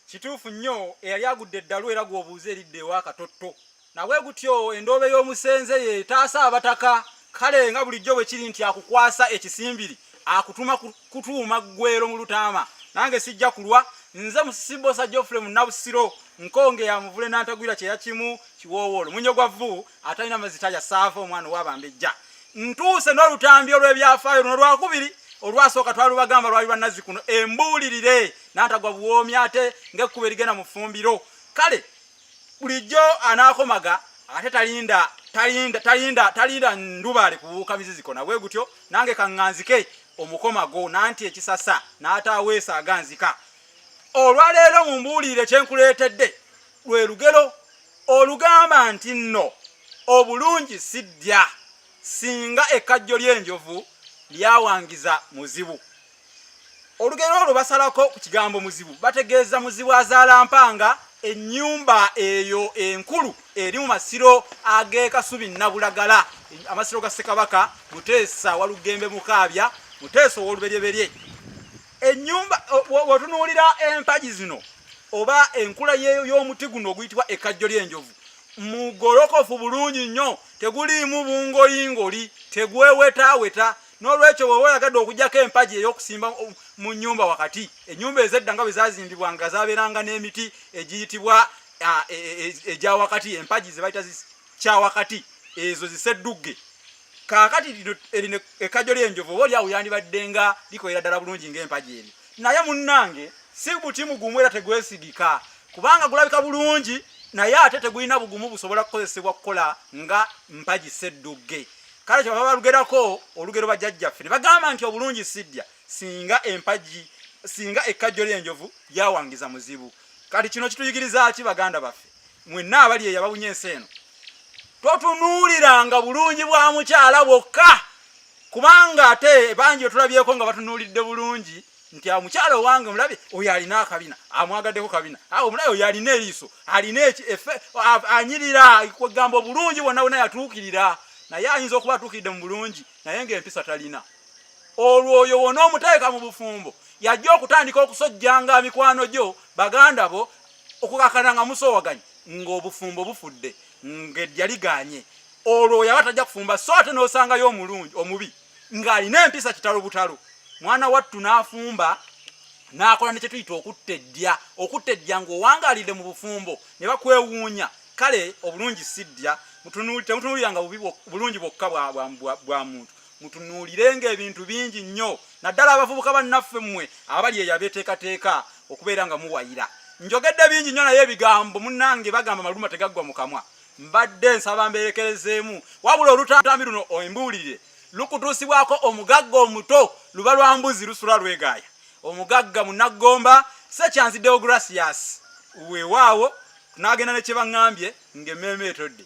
Kituufu nnyo eyali agudde eddalu era gw'obuuza eridda ewa katotto. Nabwe gutyo endoobe y'omusenze y'etaasa abataka. Kale nga bulijjo bwe kiri nti akukwasa ekisimbiri akutuma kutuuma ggwero mu lutaama, nange sijja kulwa. Nze Musisibboosa Geoffrey Munnabusiro, nkonge ya muvule Nantagwira kyeya kimu kiwoowoolo, munyo gwa vvu atalina mazzi talya saava omwana ow'abambejja. Ntuuse n'olutambi olw'ebyafaayo luno lwakubiri, olwasooka twalubagamba lwali lwa Nazzikuno embuulirire. n'atagwa buwoomi ate ng'ekkuba erigenda mu ffumbiro kale bulijjo anaakomaga ate talinda talinda talinda talinda ndubaale kubuuka miziziko nabwe gutyo nange kaŋŋanzike omukomago nanti ekisasa n'ataaweesa aganzika olwaleero mu mbuulire kye nkuleetedde lwe lugero olugamba nti nno obulungi siddya singa ekkajjo ly'enjovu lyawangiza muzibu olugero olwo basalako ku kigambo muzibu bategeeza muzibu azaala mpanga ennyumba eyo enkulu eri mu masiro ag'ekasubi nabulagala amasiro ga ssekabaka muteesa walugembe mukaabya muteesa ow'oluberyeberye ennyumba wetunuulira empagi zino oba enkula y'omuti guno oguyitibwa ekkajjo ly'enjovu mugolokofu bulungi nnyo teguliimu bungoyingoli tegwewetaaweta n'olwekyo woba oyagadde okujjako empagi ey'okusimba mu nnyumba wakati ennyumba ezedda nga bwe zazimbibwa nga zabeeranga n'emiti egiyitibwa e, e, egya wakati empagi ze bayita kya wakati ezo ziseddugge kaakati erino ekkajo ly'enjovu oba olyawo yandibadde nga likolera ddala bulungi ng'empagi eri naye munnange si buti mugumu era tegwesigika kubanga gulabika bulungi naye ate tegulina bugumu busobola kukozesebwa kukola nga mpagi seddugge kale kyova balugerako olugero bajjajjaffe ne bagamba nti obulungi siddya singa empagi singa ekkajjo ly'enjovu lyawangiza muzibu kati kino kituyigiriza ki baganda baffe mwenna abali eyo abawunya ensi eno totunuuliranga bulungi bwa mukyala bwokka kubanga ate bangi otulabyeko nga batunuulidde bulungi nti omukyala owange omulabe oyo alina akabina amwagaddeko kabina awo omulabe oyo alina eriiso alina eki efe anyirira kwegamba obulungi bwonna bwonna yatuukirira naye ayinza okuba atuukiridde mu bulungi naye ng'empisa talina olwo oyo wona omuteeka mu bufumbo yajja okutandika okusojjanga mikwano gyo baganda bo okukakana nga musowaganye ng'obufumbo bufudde ng'ejja liganye olwo yaba tajja kufumba so ate n'osangayo omulungi omubi ng'alina empisa kitalo butalo mwana wattu n'afumba n'akola ne kyetuyita okutta eddya okutta eddya ng'owangaalidde mu bufumbo ne bakwewuunya kale obulungi si ddya temutunuuliranga bulungi bwokka bwa muntu mutunuulirenga ebintu bingi nnyo naddala abavubuka bannaffe mmwe abali eyo abeeteekateeka okubeera nga muwayira njogedde bingi nnyo naye ebigambo munnange bagamba maluma tegaggwa mu kamwa mbadde nsaba mbeerekerezeemu wabula olutambi luno embuulire lukutuusibwako omugagga omuto luba lwa mbuzi lusula lwegaaya omugagga munaggomba sekyanzi deogratias weewaawo n'agenda ne kye baŋŋambye ng'emmeeme etodde